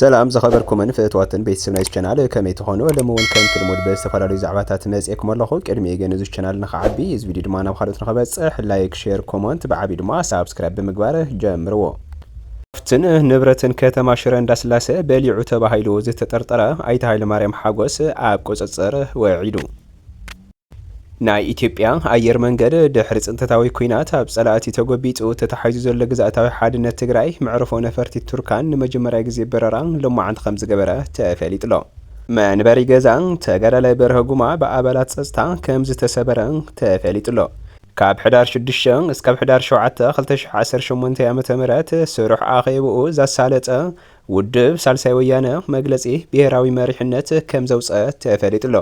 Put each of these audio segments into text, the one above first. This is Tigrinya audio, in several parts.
ሰላም ዝኸበርኩምን ፍእትዋትን ቤተሰብ ናይዚ ቻናል ከመይ ትኾኑ? ሎሚ እውን ከምቲ ልሙድ ብዝተፈላለዩ ዛዕባታት መፅኤኩም ኣለኹ። ቅድሚኡ ግን እዚ ቻናል ንኸዓቢ እዚ ቪድዮ ድማ ናብ ካልኦት ንኸበፅሕ ላይክ፣ ሼር፣ ኮመንት ብዓብዩ ድማ ሳብስክራይብ ብምግባር ጀምርዎ። ሃፍትን ንብረትን ከተማ ሽረ እንዳስላሰ በሊዑ ተባሂሉ ዝተጠርጠረ ኣይተ ሃይለማርያም ሓጎስ ኣብ ቁፅፅር ወዒሉ። ናይ ኢትዮጵያ ኣየር መንገድ ድሕሪ ፅንተታዊ ኲናት ኣብ ፀላእቲ ተጎቢጡ ተታሒዙ ዘሎ ግዝኣታዊ ሓድነት ትግራይ መዕርፎ ነፈርቲ ቱርካን ንመጀመርያ ግዜ በረራ ሎማዕንቲ ከምዝገበረ ተፈሊጡ'ሎ። መንበሪ ገዛ ተጋዳላይ በርሀ ጉማ ብኣባላት ፀፅታ ከምዝተሰበረ ተፈሊጡ'ሎ። ካብ ሕዳር ሽዱሽተ እስካብ ሕዳር ሸውዓተ ክልተ ሽሕ ዓሰርተ ሸሞንተ ዓመተ ምህረት ስሩሕ ኣኼብኡ ዘሳለጠ ውድብ ሳልሳይ ወያነ መግለጺ ብሄራዊ መሪሕነት ከም ዘውጸ ተፈሊጡ'ሎ።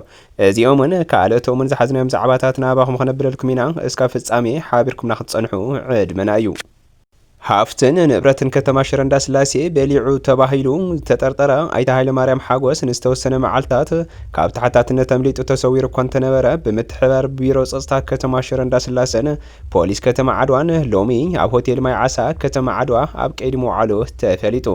እዚኦምን ካልኦቶምን ዝሓዝናዮም ዛዕባታት ናባኹም ከነብለልኩም ኢና። እስካብ ፍጻሜ ሓቢርኩምና ክትጸንሑ ዕድመና እዩ። ሃፍትን ንብረትን ከተማ ሽረ እንዳስላሴ በሊዑ ተባሂሉ ዝተጠርጠረ ኣይተ ሃይለማርያም ሓጎስ ንዝተወሰነ መዓልታት ካብ ተሓታትነት ኣምሊጡ ተሰዊሩ እኳ እንተነበረ ብምትሕብባር ቢሮ ፀፅታ ከተማ ሽረ እንዳስላሰን ፖሊስ ከተማ ዓድዋን ሎሚ ኣብ ሆቴል ማይ ዓሳ ከተማ ዓድዋ ኣብ ቀይዲ ምውዓሉ ተፈሊጡ።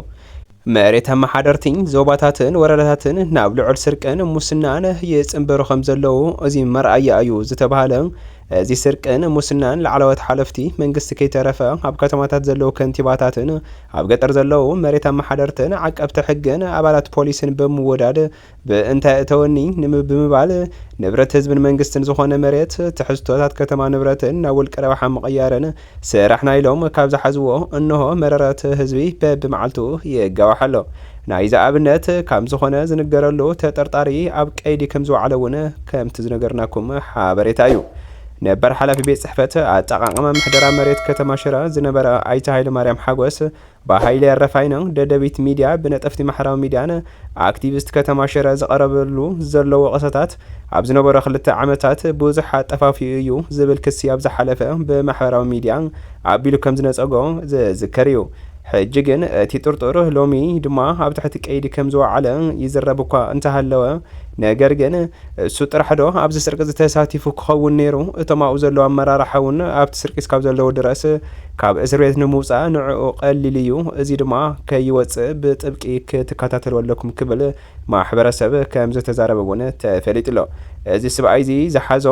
መሬት ኣመሓደርቲ ዞባታትን ወረዳታትን ናብ ልዑል ስርቅን ሙስናን ይፅምበሩ ከምዘለዉ እዚ መርኣያ እዩ ዝተብሃለ እዚ ስርቅን ሙስናን ላዕለዎት ሓለፍቲ መንግስቲ ከይተረፈ ኣብ ከተማታት ዘለዉ ከንቲባታትን ኣብ ገጠር ዘለዉ መሬት ኣመሓደርትን ዓቀብቲ ሕግን ኣባላት ፖሊስን ብምውዳድ ብእንታይ እተወኒ ንምብምባል ንብረት ህዝብን መንግስትን ዝኾነ መሬት ትሕዝቶታት ከተማ ንብረትን ናብ ውልቀ ረብሓ ምቕያርን ስራሕና ኢሎም ካብ ዝሓዝዎ እንሆ መረረት ህዝቢ በብመዓልቱ ይጋዋሕ ኣሎ። ናይዚ ኣብነት ካብ ዝኾነ ዝንገረሉ ተጠርጣሪ ኣብ ቀይዲ ከም ዝወዓለ እውን ከምቲ ዝነገርናኩም ሓበሬታ እዩ። ነበር ሓላፊ ቤት ፅሕፈት ኣጠቓቕማ ምሕደራ መሬት ከተማ ሽረ ዝነበረ ኣይተ ሃይለማርያም ሓጎስ ብሃይለ ኣረፋይ ን ደደቢት ሚድያ ብነጠፍቲ ማሕራዊ ሚድያን ኣክቲቪስት ከተማ ሽረ ዝቐረበሉ ዘሎ ወቐሰታት ኣብ ዝነበሮ ክልተ ዓመታት ብዙሕ ኣጠፋፊኡ እዩ ዝብል ክሲ ኣብ ዝሓለፈ ብማሕበራዊ ሚድያ ኣቢሉ ከምዝነጸጎ ዝዝከር እዩ። ሕጂ ግን እቲ ጥርጡር ሎሚ ድማ ኣብ ትሕቲ ቀይዲ ከምዝወዓለ ይዝረብ እኳ እንተሃለወ ነገር ግን እሱ ጥራሕ ዶ ኣብዚ ስርቂ እዚ ተሳቲፉ ክኸውን ነይሩ እቶም ኣብኡ ዘለዉ ኣመራርሓ እውን ኣብቲ ስርቂ እስካብ ዘለዉ ድረስ ካብ እስር ቤት ንምውጻእ ንዕኡ ቀሊል እዩ እዚ ድማ ከይወጽእ ብጥብቂ ክትከታተልዎ ኣለኩም ክብል ማሕበረሰብ ከም ዝተዛረበ እውን ተፈሊጡ ኣሎ እዚ ስብኣይ እዚ ዝሓዞ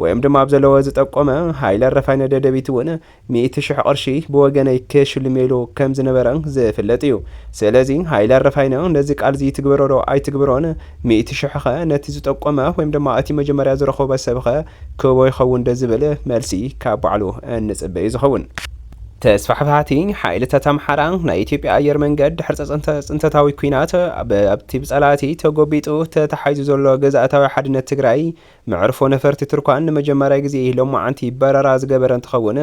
ወይም ድማ ኣብ ዘለዎ ዝጠቆመ ሃይለ ረፋይነ ደደቢት እውን ሚእቲ ሽሕ ቅርሺ ብወገነይ ክሽልሜሉ ከም ዝነበረ ዝፍለጥ እዩ። ስለዚ ሃይለ ኣረፋይነ ነዚ ቃልዚ ይትግብሮዶ ኣይትግብሮን ሚእቲ ሽሕኸ ነቲ ዝጠቆመ ወይም ድማ እቲ መጀመርያ ዝረኸቦ ሰብኸ ክህቦ ይኸውንዶ ዝብል መልሲ ካብ ባዕሉ እንጽበ እዩ ዝኸውን። ተስፋሕፋሕቲ ሓይልታት ኣምሓራ፣ ናይ ኢትዮጵያ ኣየር መንገድ ድሕሪ ጸጸንተ ጽንተታዊ ኲናት፣ ኣብቲ ብጸላእቲ ተጎቢጡ ተታሒዙ ዘሎ ግዝኣታዊ ሓድነት ትግራይ መዕርፎ ነፈርቲ ትርኳን ንመጀመርያ ግዜ እዪ ሎማዓንቲ በረራ ዝገበረ እንትኸውን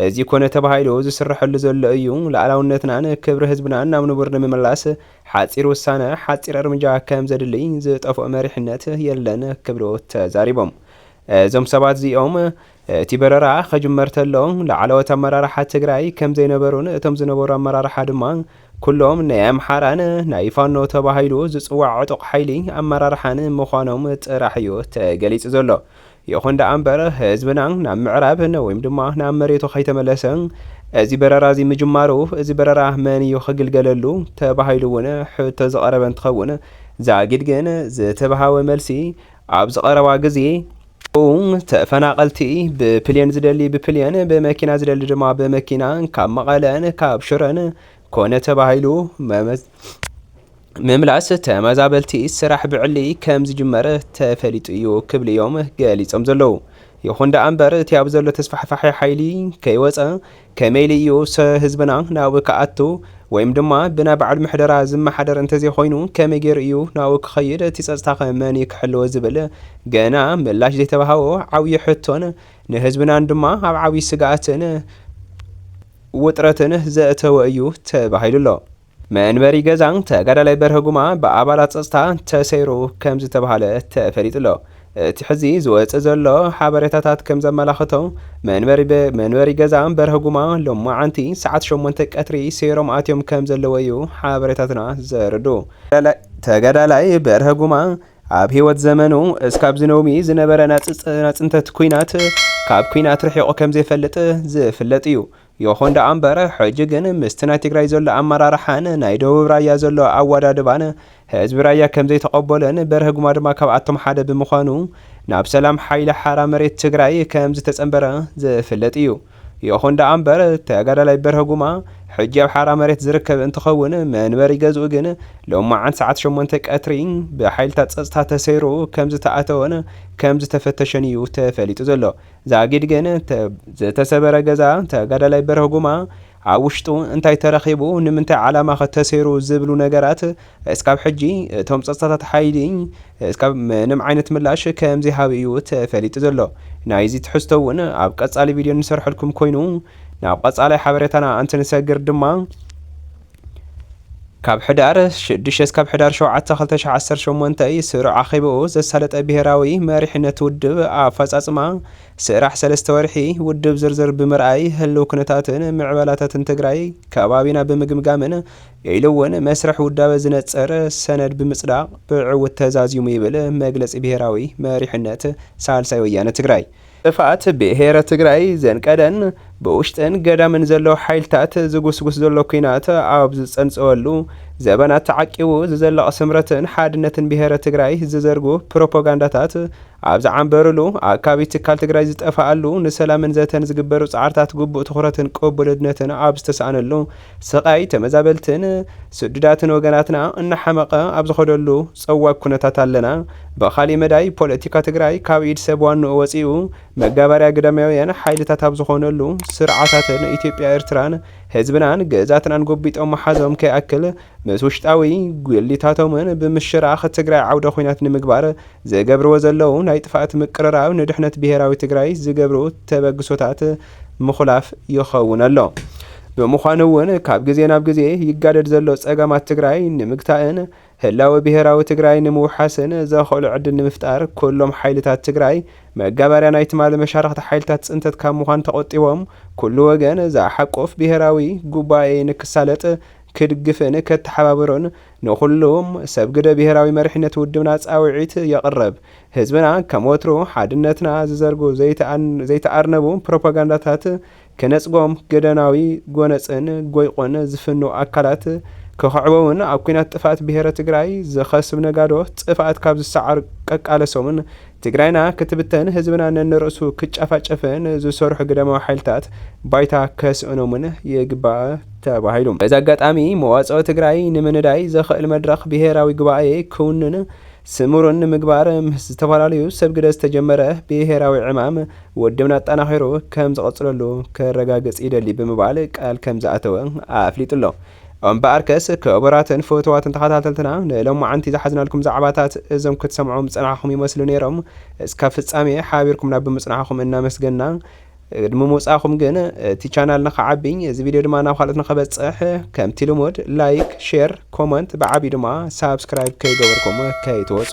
እዚ ኮነ ተባሂሉ ዝስረሐሉ ዘሎ እዩ ላኣላውነትናን ክብሪ ህዝብናን ናብ ንቡር ንምምላስ ሓፂር ውሳነ ሓፂር እርምጃ ከምዘድሊ ዝጠፍኦ መሪሕነት የለን ክብሉ ተዛሪቦም እዞም ሰባት እዚኦም እቲ በረራ ከጅመር ተሎ ላዕለዎት ኣመራርሓ ትግራይ ከምዘይነበሩን እቶም ዝነበሩ ኣመራርሓ ድማ ኩሎም ናይ ኣምሓራን ናይ ፋኖ ተባሂሉ ዝፅዋዕ ዕጡቕ ሓይሊ ኣመራርሓን ምዃኖም ጥራሕ እዩ ተገሊፁ ዘሎ። ይኹን ደኣ እምበር ህዝብና ናብ ምዕራብ ወይም ድማ ናብ መሬቱ ከይተመለሰ እዚ በረራ እዚ ምጅማሩ እዚ በረራ መን እዩ ክግልገለሉ ተባሂሉ እውን ሕቶ ዝቐረበ እንትኸውን ዛጊድ ግን ዝተብሃወ መልሲ ኣብዚ ቐረባ ግዜ ኡም፣ ተፈናቐልቲ ብፕልየን ዝደሊ ብፕልየን፣ ብመኪና ዝደሊ ድማ ብመኪና ካብ መቐለን ካብ ሽረን ኮነ ተባሂሉ ምምላስ ተመዛበልቲ ስራሕ ብዕሊ ከምዝጅመር ተፈሊጡ እዩ ክብሉ እዮም ገሊፆም ዘለዉ። ይኹን ደኣ እምበር እቲ ኣብ ዘሎ ተስፋሕፋሒ ሓይሊ ከይወፀ ከመይ ኢሉ እዩ ሰ ህዝብና ናብኡ ክኣቱ ወይም ድማ ብናይ ባዕሉ ምሕደራ ዝመሓደር እንተዘይኾይኑ ከመይ ገይሩ እዩ ናብኡ ክኸይድ እቲ ፀፅታኸ መን እዩ ክሕልዎ ዝብል ገና ምላሽ ዘይተበሃቦ ዓብዩ ሕቶን ንህዝብናን ድማ ኣብ ዓብዩ ስግኣትን ውጥረትን ዘእተወ እዩ ተባሂሉ ኣሎ። መንበሪ ገዛ ተጋዳላይ በርሀ ጉማ ብኣባላት ፀፅታ ተሰይሩ ከምዝተብሃለ ተፈሊጡ'ሎ። እቲ ሕዚ ዝወፅእ ዘሎ ሓበሬታታት ከምዘመላኽቶ መንበሪ ገዛ በርሀ ጉማ ሎማዓንቲ ሰዓት ሸሞንተ ቀትሪ ሰይሮም ኣትዮም ከምዘለዉ እዩ ሓበሬታትና ዘረድኡ። ተጋዳላይ በርሀ ጉማ ኣብ ህይወት ዘመኑ እስካብ ዝነውሚ ዝነበረ ናፅንተት ኲናት ካብ ኲናት ርሒቑ ከምዘይፈልጥ ዝፍለጥ እዩ። ይኹን ደኣ እምበር ሕጂ ግን ምስቲ ናይ ትግራይ ዘሎ ኣመራርሓን ናይ ደቡብ ራያ ዘሎ ኣወዳድባን ህዝቢ ራያ ከምዘይተቐበሎን በርሀ ጉማ ድማ ካብኣቶም ሓደ ብምዃኑ ናብ ሰላም ሓይሊ ሓራ መሬት ትግራይ ከምዝተጸንበረ ዝፍለጥ እዩ። ይኹን ደኣ እምበር ተጋዳላይ በርሀ ጉማ ሕጂ ኣብ ሓራ መሬት ዝርከብ እንትኸውን መንበሪ ገዝኡ ግን ሎማዓንቲ ሰዓት ሸሞንተ ቀትሪ ብሓይልታት ጸጥታ ተሰይሩ ከምዝተኣተወን ከምዝተፈተሸን እዩ ተፈሊጡ ዘሎ። ዛጊድ ግን እቲ ዝተሰበረ ገዛ ተጋዳላይ በርሀ ጉማ ኣብ ውሽጡ እንታይ ተረኺቡ ንምንታይ ዓላማኸ ተሰይሩ ዝብሉ ነገራት እስካብ ሕጂ እቶም ፀፅታታት ሓይሊ እስካብ ምንም ዓይነት ምላሽ ከምዘይሃቡ እዩ ተፈሊጡ ዘሎ። ናይዚ ትሕዝቶ እውን ኣብ ቀፃሊ ቪድዮ እንሰርሐልኩም ኮይኑ ናብ ቐፃላይ ሓበሬታና እንትንሰግር ድማ ካብ ሕዳር 6 እስካብ ሕዳር 7 2018 ስሩዕ ኣኼባኡ ዘሳለጠ ብሄራዊ መሪሕነት ውድብ ኣፈፃፅማ ስራሕ ሰለስተ ወርሒ ውድብ ዝርዝር ብምርኣይ ህልው ኩነታትን ምዕበላታትን ትግራይ ከባቢና ብምግምጋምን ኢሉ እውን መስርሕ ውዳበ ዝነፅር ሰነድ ብምፅዳቕ ብዕውት ተዛዚሙ ይብል መግለፂ ብሄራዊ መሪሕነት ሳልሳይ ወያነ ትግራይ። ጥፍኣት ብሄረ ትግራይ ዘንቀደን ብውሽጥን ገዳምን ዘለዉ ሓይልታት ዝጉስጉስ ዘሎ ኲናት ኣብ ዝፀንፀወሉ ዘበናት ተዓቂቡ ዝዘለቕ ስምረትን ሓድነትን ብሄረ ትግራይ ዝዘርጉ ፕሮፖጋንዳታት ኣብ ዝዓምበሩሉ ኣካቢ ትካል ትግራይ ዝጠፈኣሉ ንሰላምን ዘተን ዝግበሩ ፃዕርታት ግቡእ ትኹረትን ቅቡልነትን ኣብ ዝተስኣነሉ ስቓይ ተመዛበልትን ስዱዳትን ወገናትና እናሓመቐ ኣብ ዝኸደሉ ጸዋግ ኩነታት ኣለና። ብኻሊእ መዳይ ፖለቲካ ትግራይ ካብ ኢድ ሰብ ዋንኡ ወጺኡ መጋበርያ ግዳማውያን ሓይልታት ኣብ ዝኾነሉ ስርዓታትን ኢትዮጵያ ኤርትራን ህዝብናን ግእዛትናን ጎቢጦም ምሓዞም ከይኣክል ምስ ውሽጣዊ ጉሊታቶምን ብምሽራኽ ትግራይ ዓውደ ኩናት ንምግባር ዝገብርዎ ዘለዉ ናይ ጥፍኣት ምቅርራብ ንድሕነት ብሄራዊ ትግራይ ዝገብርኡ ተበግሶታት ምኹላፍ ይኸውን ኣሎ። ብምዃኑ እውን ካብ ግዜ ናብ ግዜ ይጋደድ ዘሎ ፀገማት ትግራይ ንምግታእን ህላወ ብሄራዊ ትግራይ ንምውሓስን ዘኸእሎ ዕድል ንምፍጣር ኩሎም ሓይልታት ትግራይ መጋበርያ ናይ ትማሊ መሻርኽቲ ሓይልታት ፅንተት ካብ ምዃን ተቖጢቦም ኩሉ ወገን ዝሓቁፍ ብሄራዊ ጉባኤ ንክሳለጥ ክድግፍን ከተሓባብሩን ንኹሉም ሰብ ግደ ብሄራዊ መሪሕነት ውድብና ፃውዒት የቕርብ። ህዝብና ከም ወትሩ ሓድነትና ዝዘርጉ ዘይተኣርነቡ ፕሮፓጋንዳታት ክነጽጎም ገደናዊ ጎነጽን ጎይቁን ዝፍኑ ኣካላት ክኽዕበውን ኣብ ኩናት ጥፍኣት ብሄረ ትግራይ ዝኸስብ ነጋዶ ጥፍኣት ካብ ዝሰዓር ቀቃለሶምን ትግራይና ክትብተን ህዝብና ነንርእሱ ክጨፋጨፍን ዝሰርሑ ግደማዊ ሓይልታት ባይታ ከስእኖምን ይግባእ ተባሂሉ። በዚ ኣጋጣሚ መዋጽኦ ትግራይ ንምንዳይ ዘኽእል መድረኽ ብሄራዊ ጉባኤ ክውንን ስሙር ንምግባር ምስ ዝተፈላለዩ ሰብ ግደ ዝተጀመረ ብሄራዊ ዕማም ውድብና ኣጠናኺሩ ከም ዝቕፅለሉ ከረጋግፅ ይደሊ ብምባል ቃል ከም ዝኣተወ ኣፍሊጡ'ሎ። እምበኣርከስ ክቡራትን ፍቱዋትን ተኸታተልትና ንሎማዓንቲ ዝሓዝናልኩም ዛዕባታት እዞም ክትሰምዑ ምፀናሕኹም ይመስሉ ነይሮም። እስካብ ፍፃሜ ሓቢርኩምና ብምፅናሕኹም እናመስገንና፣ ቅድሚ ምውጻእኩም ግን እቲ ቻናል ንክዓቢ እዚ ቪድዮ ድማ ናብ ካልኦት ንክበጽሕ ከምቲ ልሙድ ላይክ ሼር ኮመንት ብዓብዩ ድማ ሳብስክራይብ ከይገበርኩም ከይትወጹ።